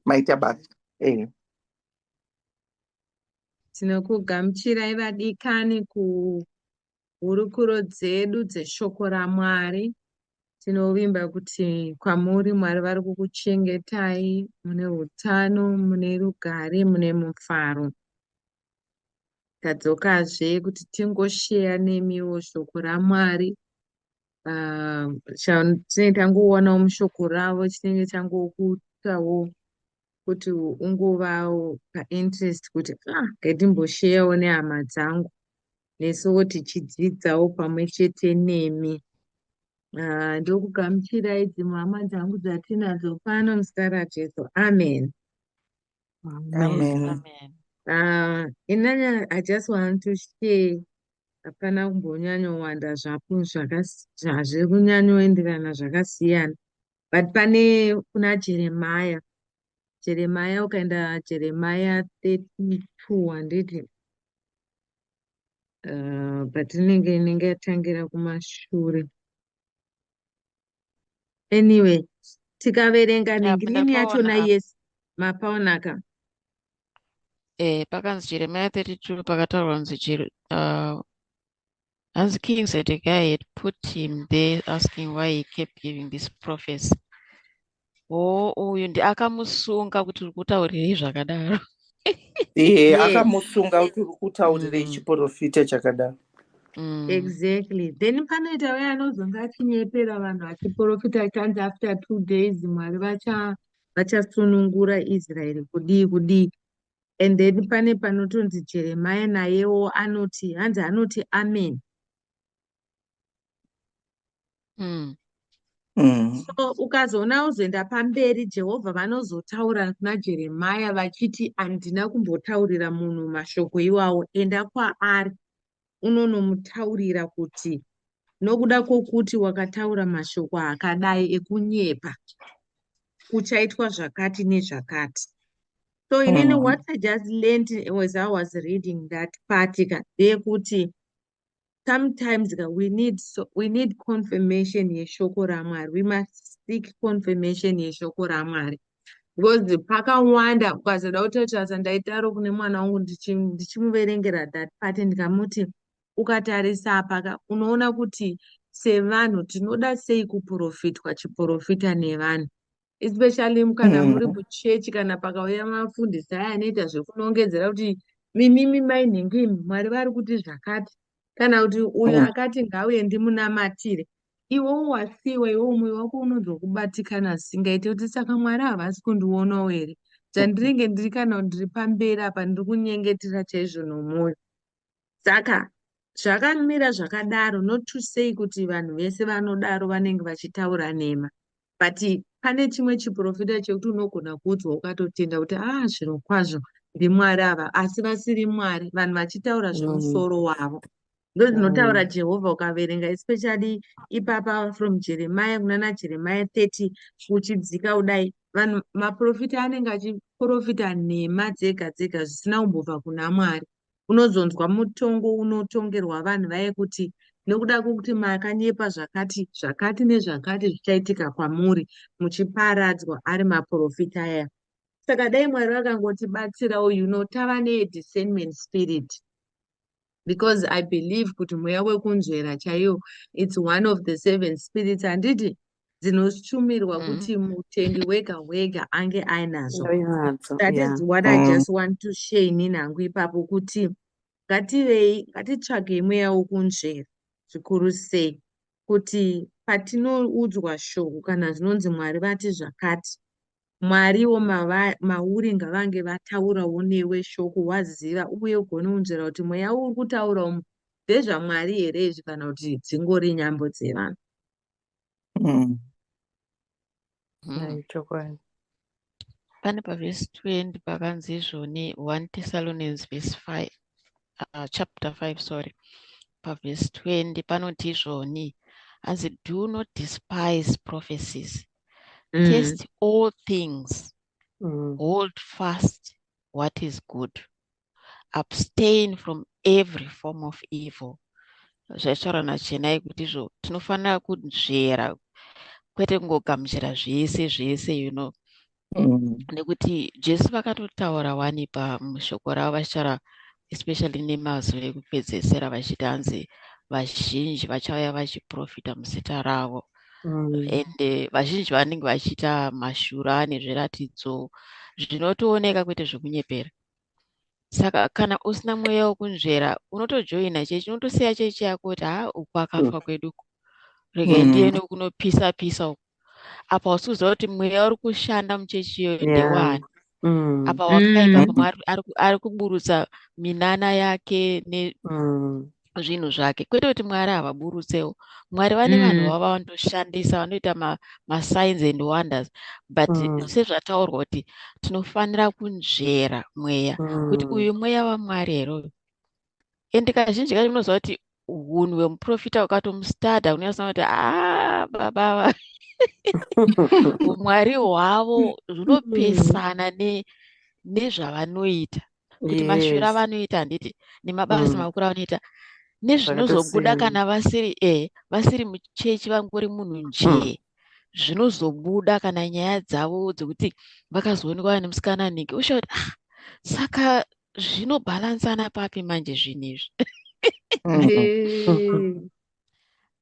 maita basa ehe tinokugamuchirai vadikani kuhurukuro dzedu dzeshoko ramwari tinovimba kuti kwamuri mwari vari kukuchengetai mune utano mune rugare mune mufaro tadzokazve kuti tingosheya nemiwo shoko ramwari ah, chatinenge tangoonawo mushoko ravo chinenge changokuitawo kuti ungovawo painterest kuti ah ngatimbosheyawo nehama dzangu nesuwo tichidzidzawo pamwe chete nemi ah, ndokugamuchirai dzimwe hama dzangu dzatinadzo pano muzita rajesu amen Amen. Amen. Uh, inanya I just want to share hapana kumbonyanyowanda zvapo zviri kunyanyoenderana zvakasiyana but pane kuna jeremaya jeremaya ukaenda jeremaya 32 handiti uh, but inenge inenge yatangira kumashure anyway tikaverenga nengirini yachona yes mapaonaka eh pakanzi jeremiya 32 pakataurwa kunzi uh, hanzi king zedekiah had put him there asking why he kept giving this prophecy oh uyu ndi akamusunga kuti uri kutaurirei zvakadaro ehe Yes. akamusunga kuti uri kutaurirei Mm. chiporofita chakadaro Mm. exactly then panoita waya anozonge achinyepera vanhu achiporofita achanzi after two days mwari vacha vachasunungura israeri kudii kudii and then pane panotonzi jeremaya nayewo anoti hanzi anoti amen mm. Mm. So ukazoona ozoenda pamberi Jehovha vanozotaura kuna Jeremia vachiti handina kumbotaurira munhu mashoko iwawo enda kwaari unonomutaurira kuti nokuda kwokuti wakataura mashoko akadai ekunyepa kuchaitwa zvakati nezvakati so inini mm. what i just learned as i was reading that part ka ndeyekuti sometimes ka we need so, we need confirmation yeshoko ramwari we must seek confirmation yeshoko ramwari because pakawanda ukazoda kutotarisa ndaitaro kune mwana wangu ndichimuverengera ndichi that part ndikamuti ukatarisa paka unoona kuti sevanhu tinoda sei kuprofitwa chiprofita nevanhu especially kana muri mm. muchechi kana pakauya mafundisi aya anoita zvekunongedzera kuti mimimi mai nhingi imi mwari vari kuti zvakati kana kuti uyu mm. akati ngauye ndimunamatire iwewo wasiwa iwewo mwoyo wako unonzwa singaite kuti saka mwari havasi kundionawo here dzandinenge ndiri kana ndiri pamberi apa ndiri kunyengetera chaizvo nomwoyo saka zvakamira zvakadaro not to say kuti vanhu vese vanodaro vanenge vachitaura nhema but pane chimwe chiprofita chekuti unogona kuudzwa ukatotenda kuti a ah, zviro kwazvo ndimwari ava asi vasiri mwari vanhu vachitaura zvemusoro mm. wavo ndo dzinotaura mm. jehovha ukaverenga especially ipapa from jeremiya kunana jeremiya 30 uchidzika kudai vanhu maprofita anenge achiprofita nhema dzega dzega zvisina kumbobva kuna mwari unozonzwa mutongo unotongerwa vanhu vaye kuti nokuda kwokuti makanyepa zvakati zvakati nezvakati zvichaitika kwamuri muchiparadzwa ari maprofita aya saka dai mwari vakangotibatsira uyu no tava nediscernment spirit because i believe kuti mweya wekunzvera chaiyo its one of the seven spirits handiti dzinoshumirwa mm. kuti mutendi wega wega ange ainadzo that yeah. is what mm. i just want to share inini hangu ipapo kuti ngativei ngatitsvagei mweya wokunzvera zvikuru sei kuti patinoudzwa shoko kana zvinonzi mwari vati zvakati mwariwo mauri ngavange vataurawo newe shoko waziva uye ugone kunzvera kuti mweya uri kutaura umu ndezvamwari here izvi kana kuti dzingori nyambo dzevanhu Mm. Mm. chokwadi pane pavhesi 20 pakanzi izvoni 1 thessalonians verse 5 uh, chapter 5 sorry pavhesi 20 panoti izvoni hanzi do not despise prophecies mm. test all things mm. hold fast what is good abstain from every form of evil zvaitaura nachenai kuti izvo tinofanira kunzvera kwete kungogamuchira zvese zvese you know mm. nekuti jesu vakatotaura wani pamushoko ravo vachitaura especially nemazuva ekupedzesera vachiti hanzi vazhinji vachauya vachiprofita muzita ravo mm. and eh, vazhinji vanenge vachiita mashura nezviratidzo zvinotooneka kwete zvekunyepera saka kana usina mweya wekunzvera unotojoina chechi unotosiya chechi yako kuti haa uku akafa mm. kwedu uku rega mm. ndiye nekunopisa pisa uku apa usi kuziva kuti mweya uri kushanda muchechi iyoyo ndewani mm. apa wakaita pamwe ari kuburutsa minana yake ne zvinhu zvake kwete kuti mwari havaburutsewo mwari vane vanhu mm. vava vanotoshandisa vanoita masigns ma and wonders but mm. sezvataurwa kuti tinofanira kunzvera mweya mm. kuti uyu mweya wamwari here uyu and kazhinji kacho munoziva kuti hunhu hwemuprofita ukatomustada unoyasana kuti a ah, babava umwari hwavo hunopesana nezvavanoita kuti mashwiro avanoita handiti nemabasa mm. makuru avanoita nezvinozobuda kana vasiri e vasiri muchechi vangori munhu mm. njee zvinozobuda kana nyaya dzavo dzekuti vakazoonekwa vane musikana nhingi usha kuti ah saka zvinobhalansana papi manje zvinhu izvi mm.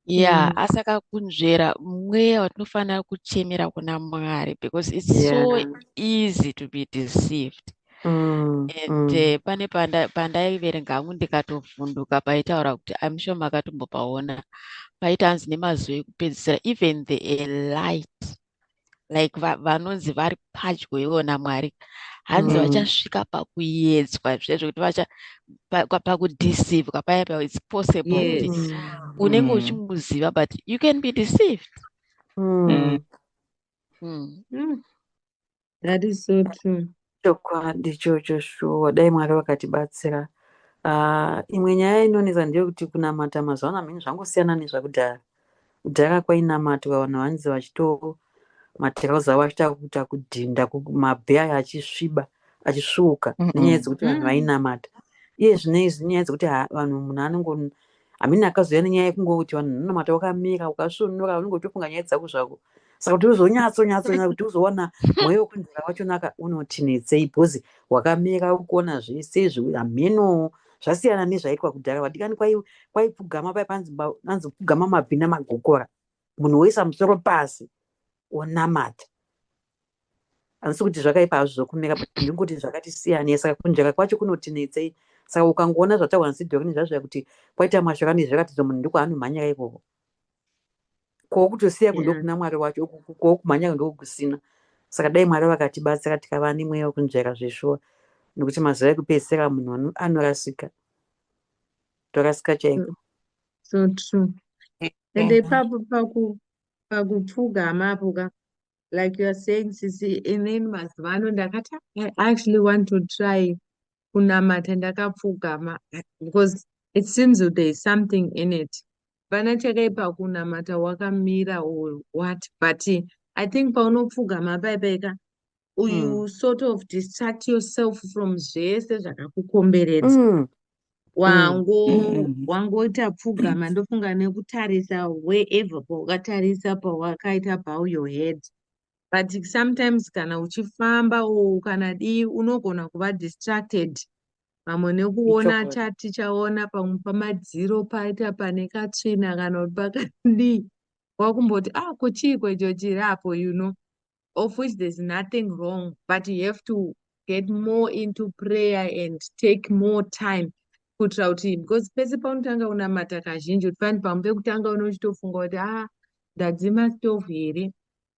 yeah mm. asi akakunzvera mweya watinofanira kuchemera kuna mwari because its yeah. so easy to be deceived mm. and mm. Uh, pane pandaiverenga hangu ndikatovhunduka paitaura kuti im sure makatombopaona paita hanzi nemazuva ekupedzisira even the light like vanonzi va, vari padyo ivona mwari hanzi mm. vachasvika mm. pakuyedzwa zvezvo kuti vacha pakudeceive pa, paya pa its possible kuti yes. Mm. unenge mm. uchimuziva but you can be deceived mm. Mm. Mm. That is so true. Chokwadi chocho shuwa dai Mwari vakatibatsira. Uh, imwe nyaya inonetsa ndeyekuti kunamata mazuva ano mhini zvangosiyana nezvakudhara. Kudhara kwainamatwa vanhu vanzi vachito matirauzi avo achiita kuita kudhinda mabhe aya achisviba achisvuuka nenyaya dzekuti vanhu vainamata iye zvinei zvinyaya dzekuti vanhu munhu anongo amene akazouya nenyaya yekungoti vanhu unonamata wakamira ukasvunura unenge uchifunga nyaya dzako zvako saka kuti uzonyatsonyatsonyatsa kuti uzoona mweya wekunzira wachonaka unoti netsei bhozi wakamira ukuona zvese hameno zvasiyana nezvaitwa kudhara vadikani kwaipfugama pai panzi pfugama mabvi namagokora munhu woisa musoro pasi onamata handisi kuti zvakaipa hazvo zvokumeka but ndingoti zvakati siyanei saka kunjaka kwacho kunotinetsei saka ukangoona zvataurwa nsidhokini zvazvaya kuti kwaita mashoko anei zvirakatidzo munhu ndiko anomhanyira ikoko kwokutosiya kundo kuna mwari wacho kwokumhanyira ndokusina saka dai mwari vakatibatsira tikava nemweya wekunzvaira zveshuwa nekuti mazuva ekupedzisira munhu anorasika torasika chaiko so true ende ipapo pakupfugama apo ka like you're saying sisi inini mazuva ano ndakati i actually want to try kunamata ndakapfugama because it seems that there is something in it pana chakaipa kunamata wakamira or what but i think paunopfugama paipaika you mm. sort of distract yourself from zvese zvakakukomberedza mm. wango mm. wangoita pfugama ndofunga nekutarisa wherever pawakatarisa pawakaita bow your head but sometimes kana uchifamba o kana dii unogona kuva distracted vamwe nekuona chati chaona pamwe pamadziro paita pane katsvina kana kuti pakadii wakumboti ah kuchiiko icho chiri apo you know of which there's nothing wrong but you have to get more into prayer and take more time kuitira kuti because pese paunotanga unamata kazhinji kuti fani pamwe pekutanga une uchitofunga kuti a ah, ndadzima stovu here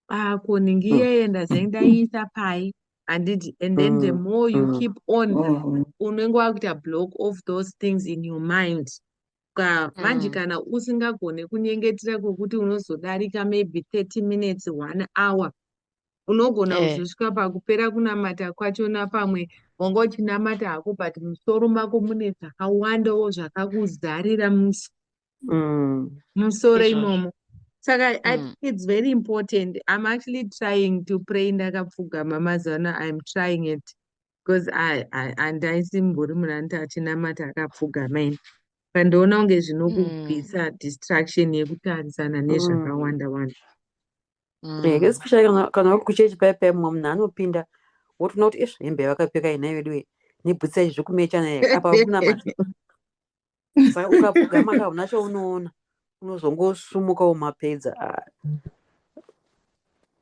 ah, ko ningi mm. iyeye ndazai ndaiisa pai handiti and then the mm. more you mm. keep on unenge wakuita block of those things in your mind ka manje mm. kana usingagone kunyengetera kwokuti unozodarika maybe 30 minutes one hour unogona eh. kuzosvika pakupera kunamata kwachona pamwe wanga uchinamata hako but musoro mako mune zvakawandawo zvakakuzarira musi mm. musoro imomo saka mm. i think it's very important i'm actually trying to pray ndakapfugama mazuva ano i'm trying it because andaisimbori munhu anoti achinamata akapfugama ini pandiona kunge zvinokubvisa mm. distraction yekutarisana mm. nezvakawanda wanda mm. eh, especially kana uri kuchechi paye paye mumwe munhu anopinda wotoona kuti ish hembe yavakapfeka inai veduwe nebhutsa izvi zvekumechana apa kunamata ukapfugama ka una chaunoona unozongosumuka umapedza ah.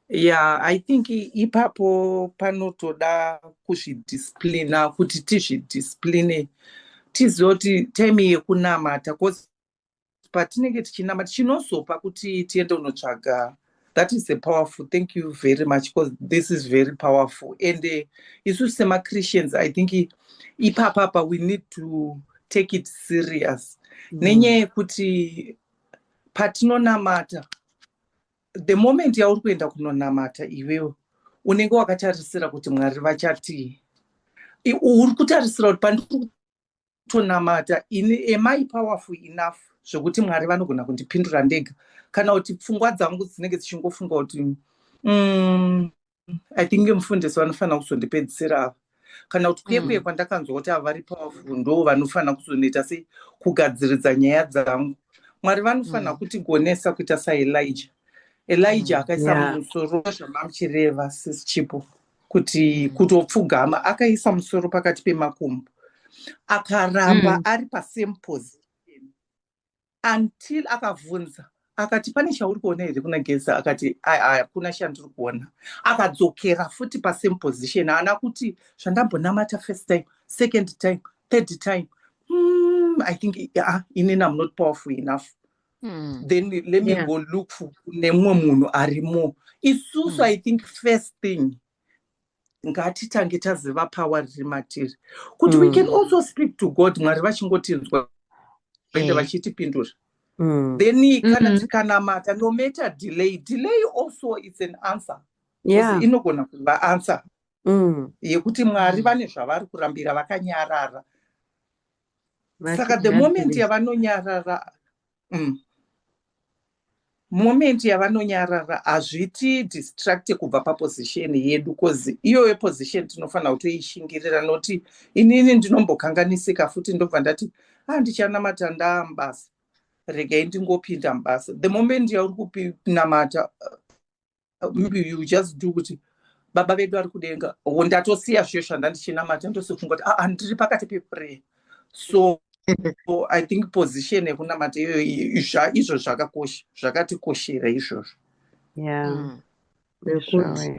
ya i think ipapo panotoda kuzvidisciplina kuti tizvidiscipline tizive kuti time yekunamata bcause patinenge tichinamata chinozopa kuti tiende unotsvaga that is a powerful thank you very much because this is very powerful and uh, isu semachristians i think ipapapa we need to take it serious mm. nenyaya yekuti patinonamata the moment yauri kuenda kunonamata iwewe unenge wakatarisira kuti mwari vachatii uri kutarisira kuti pandiri tonamata ini am i powerful enough zvekuti mwari vanogona kundipindura ndega kana kuti pfungwa dzangu dzinenge dzichingofunga kuti mm, i think mufundisi vanofanira kuzondipedzisira ava kana kuti kuye kuye mm. kwandakanzwa kuti ava vari powerful ndo vanofanira kuzonoita sei kugadziridza nyaya dzangu mwari vanofanira mm. kutigonesa kuita saelija elija mm. akaisa mumusoro zvamamuchireva sisichipo kuti kutopfugama akaisa musoro pakati pemakumbo akaramba mm. ari pasame pose until akavhunza akati pane chauri kuona here kuna geza akati hakuna chandiri kuona akadzokera futi pasame position haana kuti zvandambonamata first time second time third time mm, i think uh, inini am not powerful enough mm. then let me yeah. go look for nemumwe munhu arimo isusu mm. i think first thing ngatitange taziva pawa riri matiri kuti mm. we can mm. also speak to god mwari vachingotinzwa ende eh. vachitipindura mm. then kana mm-hmm. tikanamata no matter delay delay also its an answer yeah. inogona kuva answer mm. yekuti mwari mm. vane zvavari kurambira vakanyarara saka the moment yavanonyarara mm. moment yavanonyarara hazviti distracte kubva paposition yedu bcause iyoyo position tinofanira kutoishingirira noti inini ndinombokanganisika futi ndobva ndati handichanamata ah, ndaa mubasa regai ndingopinda mubasa the moment yauri kupinamata maybe you just do kuti baba vedu vari kudenga oh, ndatosiya zviyo zvandandichinamata ndosofunga kuti aa ndiri pakati peprayer so so i think position yekunamata iyoyo izvo zvakakosha zvakatikoshera izvozvo yeah. mm.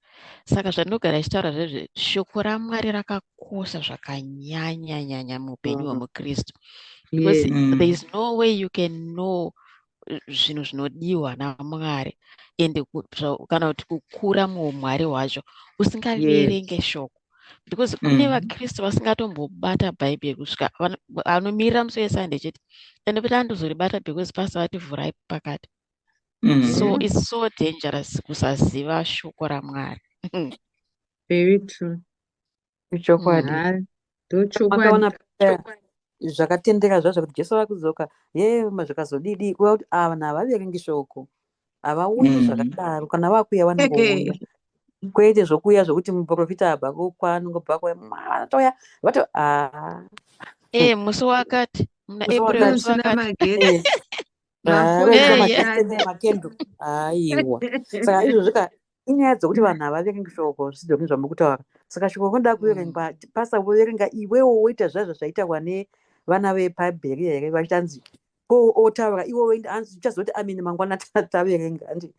saka zvandinogara ichitaura zvezve shoko ramwari rakakosha zvakanyanya nyanya muupenyu hwemukristu because mm. there is no way you can know zvinhu zvinodiwa namwari and kana kuti kukura muumwari hwacho usingaverenge yes. shoko because kune mm-hmm. vakristu vasingatombobata bhaibheri kusvika anomirira musi wesande chete and kuti andozoribata because pasi vati vhurai pakati mm. so mm-hmm. its so dangerous kusaziva shoko ramwari very true ichokwadi mm-hmm. ndochokwadi zvakatendeka zvazvo kuti jesu vakudzoka ye zvakazodidi kuva kuti ava vanhu havaverengi shoko havaoni mm. zvakadaro kana vakuya vanongoona kwete zvokuya zvokuti muprofita abva kwanongo bva kwatouya vato ah. e musi wakati muna april musi wakati aiwa saka izvozvi ka inyaya dzokuti vanhu havaverengi shoko zvisidzoke zvamuri kutaura saka shoko rinoda mm. kuverengwa pasa voverenga iwewo woita zvaizvo zvaitawa nevana vepabheria here vachitanzi ko otaura iwewo anzi uchazoti amini mangwana taverenga andi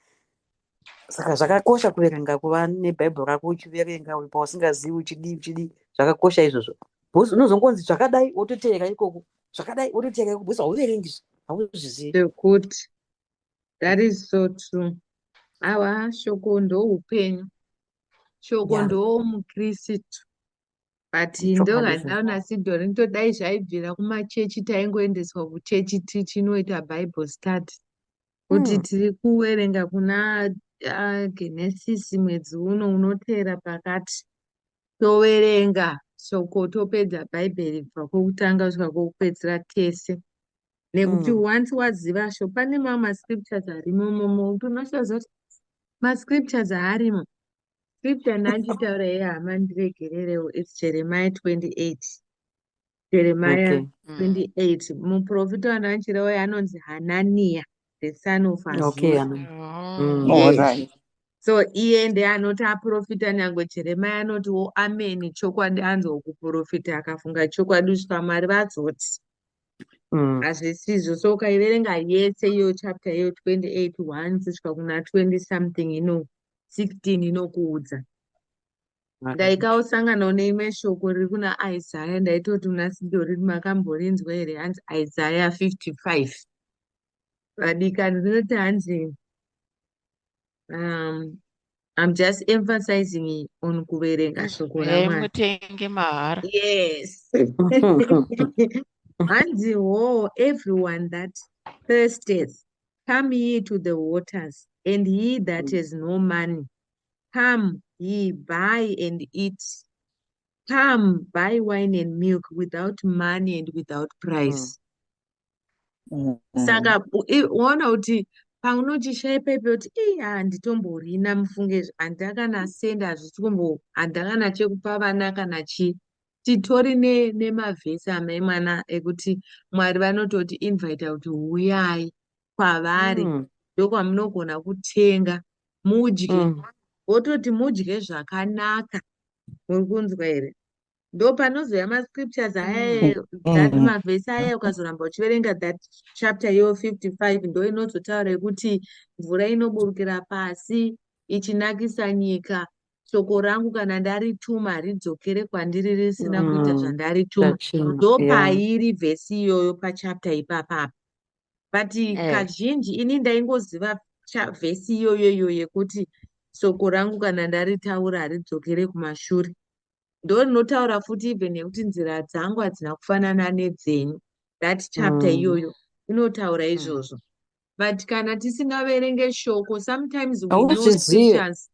saka zvakakosha kuverenga kuva nebhaibheri rako uchiverenga uri pausingazivi uchidii uchidii zvakakosha izvozvo bcause unozongonzi zvakadai wototeera ikoko zvakadai wototeera ikoko bcause hauverengi zve hauzviziviekuti that is so true awa shoko ndoupenyu shoko yeah. ndoomukristu but ndohandaona sidhori nditodai zvaibvira kumachechi taingoendeswa kuchechi tichinoita bible study kuti mm. tiri kuwerenga kuna uh, genesis mwedzi uno unoteera pakati toverenga shoko topedza bhaibheri kubva kwokutanga kusvika kwokupedzisira tese nekuti mm. once waziva sho pane mamwe mascriptures arimo momo kuti unoshaza kuti mascriptures aarimo scripture ndanditaura yehama ndiregererewo its jeremiah 28 Jeremiah okay. 28 mm. muprofita wandakachira uya anonzi hananiya the son of Azura. Okay, oh. mm. yes. All right. so iye ndiye anoti aprofita nyangwe jeremia anoti wo ameni chokwadi anzwa kuprofita akafunga chokwadi kuti pamwari vazoti mm. hazvisizvo mm. so ukaiverenga yese iyo chapter iyo 28 1 kusvika kuna 20 something ino 16 inokuudza ndaikaosanganawo neimwe shoko riri kuna isaya ndaitoti muna sidori makamborinzwa here hanzi isaya 55 vadikani rinoti hanzi um, I'm just emphasizing on kuverenga shoko ramutenge mahara yes hanzi wo everyone that thirsteth come ye to the waters and he that mm. has no money Come, ye buy and eat. Come, buy wine and milk without money and without price. Mm. Mm. Saka uona kuti paunochishaya paipe kuti ii handitomborina mufunge izvi handakana senda hazvisi kumbo handakana chekupa vana kana chii titori nemavhesi ne amai mwana ekuti mwari vanototi invita kuti huyai kwavari mm. ndokwamunogona kutenga mudye mm. wototi mudye zvakanaka muri kunzwa here ndopanozouya mascriptures aya mm. that mm. mavhesi aya ukazoramba uchiverenga that chapter yo 55 ndo inozotaura yekuti mvura inoburukira pasi ichinakisa nyika shoko rangu kana ndarituma haridzokere kwandiri risina mm. kuita zvandarituma ndopairi yeah. vhesi iyoyo pachapter ipapapa but eh. kazhinji ini ndaingoziva vhesi iyoyo iyo yekuti soko rangu kana ndaritaura haridzokere kumashure ndo rinotaura futi even nekuti nzira dzangu hadzina kufanana nedzenyu that chapter mm. iyoyo mm. inotaura mm. izvozvo but kana tisingaverenge shoko sometimes we know scriptures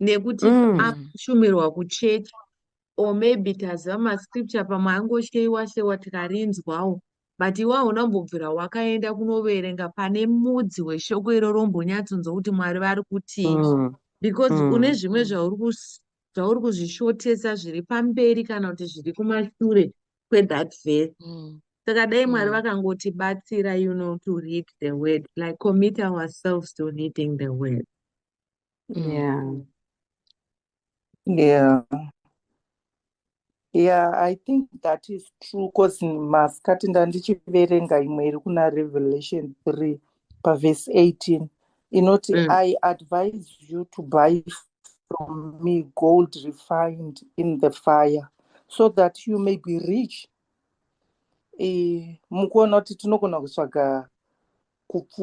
nekuti mm. akushumirwa kuchechi or maybe taziva mascripture pamwe angosheiwa sheiwa tikarinzwawo but iwe hauna kumbobvira wakaenda kunoverenga pane mudzi weshoko iroro umbonyatsonzwa kuti mwari vari kutii mm. because mm. une zvimwe zvauri zvauri kuzvishotesa zviri pamberi kana kuti zviri kumashure kwethat verse mm. saka dai mwari mm. vakangotibatsira you know to read the word like commit ourselves to reading the word mm. yeah yeah yeah i think that is true bcause masikati ndandichiverenga imwe iri kuna revelation 3 pavhesi 18 inoti mm. i advise you to buy from me gold refined in the fire so that you may be rich e, mukuona kuti tinogona kutsvaga kupfu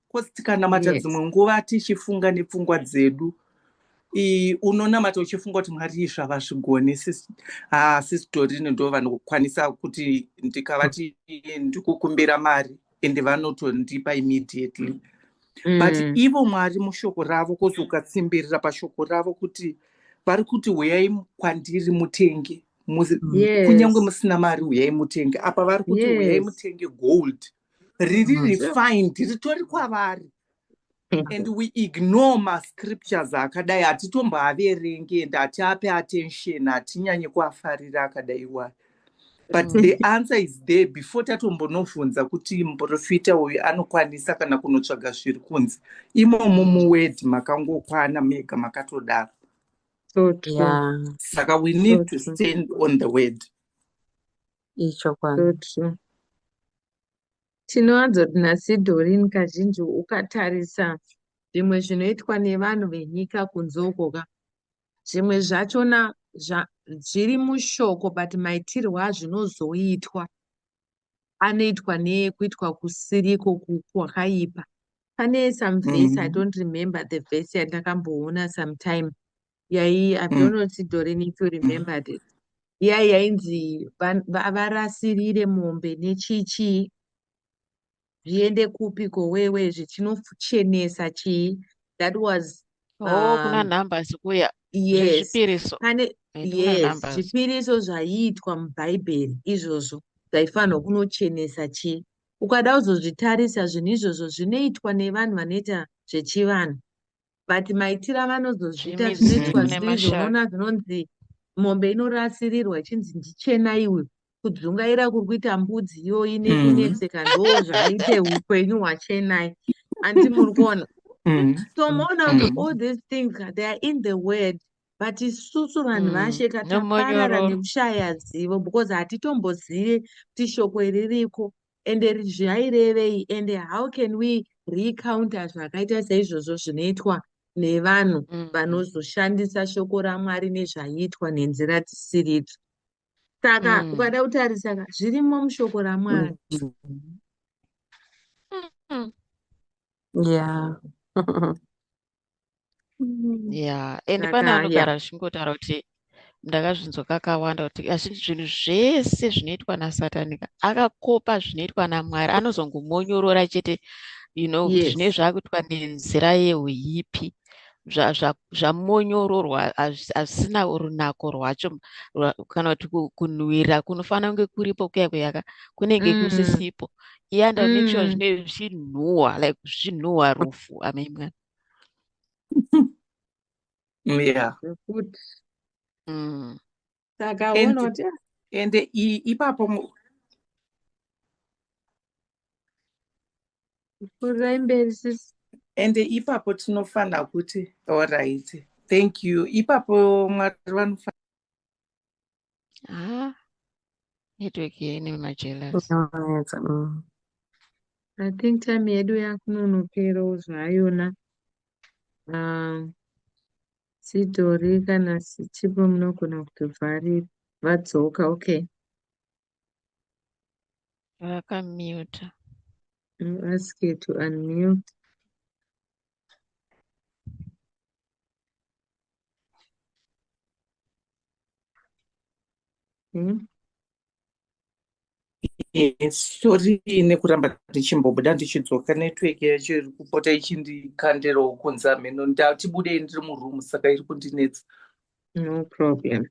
coz tikanamata yes. dzimwe nguva tichifunga nepfungwa dzedu unonamata uchifunga kuti mwari izvi havazvigoni sisitorine ah, ndo vanokwanisa kuti ndikavati ndikukumbira mari and vanotondipa immediately mm. but ivo mwari mushoko ravo kozi ukatsimbirira pashoko ravo kuti vari kuti huyai kwandiri mutenge yes. kunyange musina mari huyai mutenge apa vari kuti yes. huyai mutenge gold riri mm, refined ritori kwavari and we ignore mascriptures akadai hatitomboaverenge and hatiape attention hatinyanye kuafarira akadai wai but mm. the answer is there before tatombonobvunza kuti muprofita uyu anokwanisa kana kunotsvaga zviri kunzi imomo muword makangokwana mega makatodaro saka we need to stand on the word ichokwadi so true tinowanzoti nasidhorini kazhinji ukatarisa zvimwe zvinoitwa nevanhu venyika kunze uko ka zvimwe zvachona zviri mushoko but maitirwo azvinozoitwa anoitwa nekuitwa kusiriko kwakaipa pane some vese mm. i mhm. don't remember the vese yandakamboona sometime yai i don't know kuti doreen if you remembered it iya yainzi va- va- varasirire mombe nechichii zviende kupi ko wewe zvichinochenesa chii that was oh kuna um, numbers kuya yes zvezvipiriso pane Eh, kuna yes numbers zvipiriso zvaiitwa mubhaibheri izvozvo zvaifanirwa kunochenesa chii ukada kuzozvitarisa zvinhu izvozvo zvinoitwa nevanhu vanoita zvechivanhu but maitira vanozozviita Jimmy zvinoitwa Zulu zviri izvo nemashaka. unoona zvinonzi mombe inorasirirwa ichinzi ndichena iwe kudzungaira kuri kuita mbudzi iyo ine Mm. inetseka ndo zvaite upenyu hwachenai anti muri kuona Mm. so moona kuti Mm. all these things ka, they are in the word but isusu vanhu Mm, vashe ka taparara nomonyororo. nekushaya zivo because hatitombozive kuti shoko iri riko ende zvairevei ende how can we recounta zvakaita seizvozvo zvinoitwa nevanhu mm. vanozoshandisa shoko ramwari nezvaiitwa nenzira dzisiridzo saka mm. ukada kutarisa zvirimo mushoko ramwari mm. yeah mm. yeah and pane anogara achingotaura kuti ndakazvinzwa kakawanda kuti azvinzi zvinhu zvese zvinoitwa nasatanika akakopa zvinoitwa namwari anozongomonyorora chete you know yes. zvine zvakuitwa nenzira yeuipi zvamonyororwa hazvisina runako rwacho kana kuti kunhuwira kunofanira kunge kuripo kuya kuyaka kunenge mm. kusisipo yeah and mm. make sure zvine zvinhuwa like zvinhuwa rufu i mean mwana yeah good mm. saka unoti and ipapo kurai mberi sisi and ipapo tinofanira kuti allright thank you ipapo mwari vanofanira haa network ine majealous Inonetsa, mm. I think time yedu yakunonoperawo zvayona. Um, sitori kana sichipo munogona kutovharira vadzoka. Okay. vakamuta I'm asked to unmute. Hmm? Yes, sorry nekuramba ndichimbobuda ndichidzoka network yacho iri kupota ichindikandira ukunzi hameno ndati budei ndiri muroom saka iri kundinetsa no problem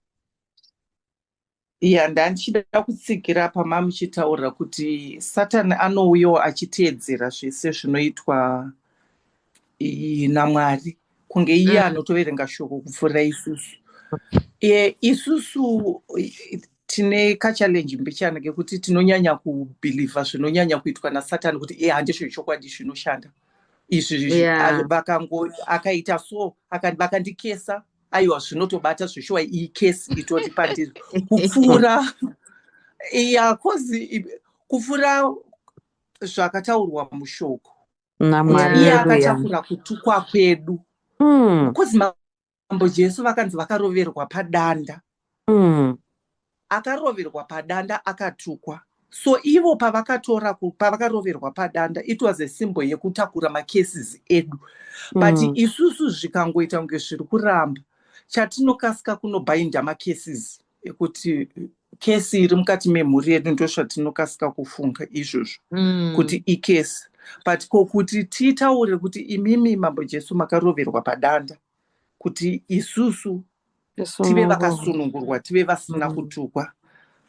ya ndandichida kutsigira pama muchitaura kuti satani anouyawo achiteedzera zvese zvinoitwa namwari kunge iye mm. anotoverenga shoko kupfuura isusu e, isusu tine kachalenji mbichana kekuti tinonyanya kubhilivha zvinonyanya kuitwa nasatani kuti e handizvo chokwadi zvinoshanda izvi yeah. vakango akaita so vakandikesa aiwa zvinotobata zveshuwa iyi kesi itori pandiri kupfuura ya kozi kupfuura zvakataurwa mushoko iye akatakura kutukwa kwedu kozi hmm. mambo jesu vakanzi vakaroverwa padanda mm. akaroverwa padanda akatukwa so ivo pavakatora pavakaroverwa padanda it was a simbo yekutakura macases edu but mm. isusu zvikangoita kunge zviri kuramba chatinokasika kunobhainda macases ekuti kesi iri mukati memhuri yedu ndozvatinokasika kufunga izvozvo mm. kuti ikesi but ko kuti titaure kuti imimi mambo jesu makaroverwa padanda kuti isusu tive vakasunungurwa tive vasina mm. kutukwa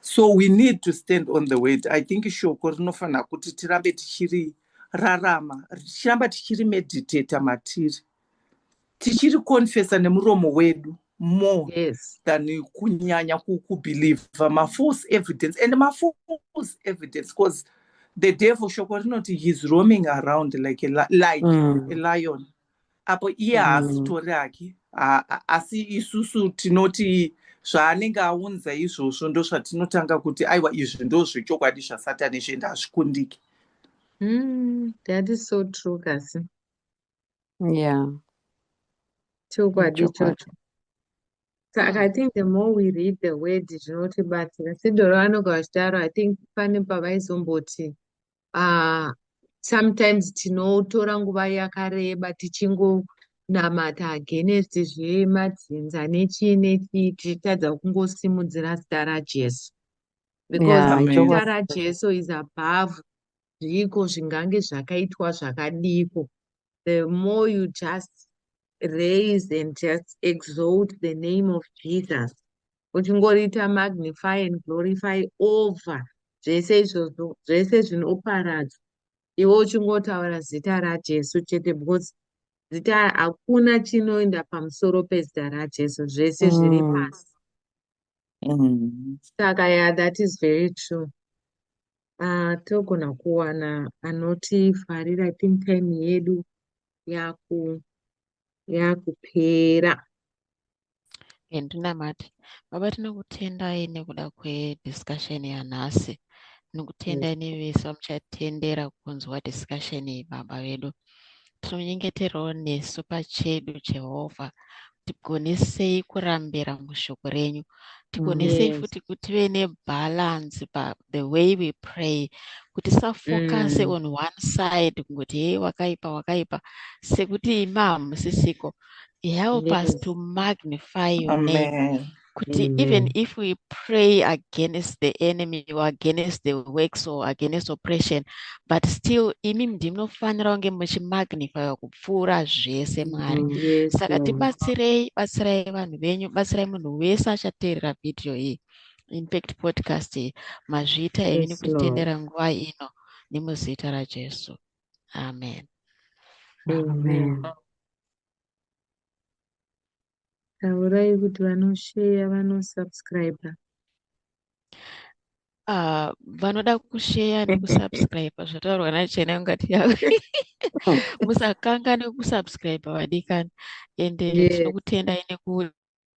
so we need to stand on the word i think shoko rinofanira kuti tirambe tichiri rarama tichiramba tichiri meditata matiri tichiri confesa nemuromo wedu more yes. than kunyanya kubelieve mafalse evidence and mafalse evidence because the devil shoko rinoti heis roaming around like a, like mm. a lion apo iye mm. haasitori hake asi isusu tinoti zvaanenge aunza izvozvo ndozvatinotanga kuti aiwa izvi ndo zvechokwadi zvasatani izvi ende hazvikundiki mm, that is so true kasi ya chokwadi chocho saka i think the more we read the word zvinotibatsira sidoro anogara chidaro i think pane pavaizomboti uh, sometimes tinotora nguva yakareba tichingonamata against zvemadzinza nechii nechii tichitadza kungosimudzira zita rajesu because zita rajesu is above zviiko zvingange zvakaitwa zvakadiko the more you just raise and just exalt the name of jesus uchingoriita magnify and glorify over zvese izvozvo zvese zvinoparadza iwe uchingotaura zita rajesu chete because zita hakuna chinoenda pamusoro pezita rajesu zvese zviri mm. pasi mm. saka ya that is very true ah, togona kuwana anotifarira i think time yedu yaku yakupera and ndinamate baba tinokutendai nekuda kwediscussion yanhasi tinokutendai yes. nevese vamuchatendera kunzwa discussion iyi baba vedu tinonyengeterawo nesu pachedu jehovha tigonesei kurambira mushoko renyu tigonesei yes. futi kuti tive nebhalansi pa the way we pray kuti safokase mm. on one side kungoti hei wakaipa wakaipa sekuti imi hamusisiko help yes. us to magnify your Amen. name kuti Amen. even if we pray against the enemy or against the works or against oppression but still imi ndinofanira kunge muchimagnifya kupfuura zvese mwari mm, yes, saka tibatsirei batsirai vanhu venyu batsirai munhu wese achateerera vhidhiyo iyi infact podcast iyi mazviita yes, imi nekutitendera nguva ino nemuzita rajesu amen, amen. amen. Taurai kuti vanosheya vanosubscriber. Ah, vanoda kusheya nekusubscriber zvataurwa nachena ungati yavo musakanganwe kusubscriber vadikani ende Yes. tinokutendai neku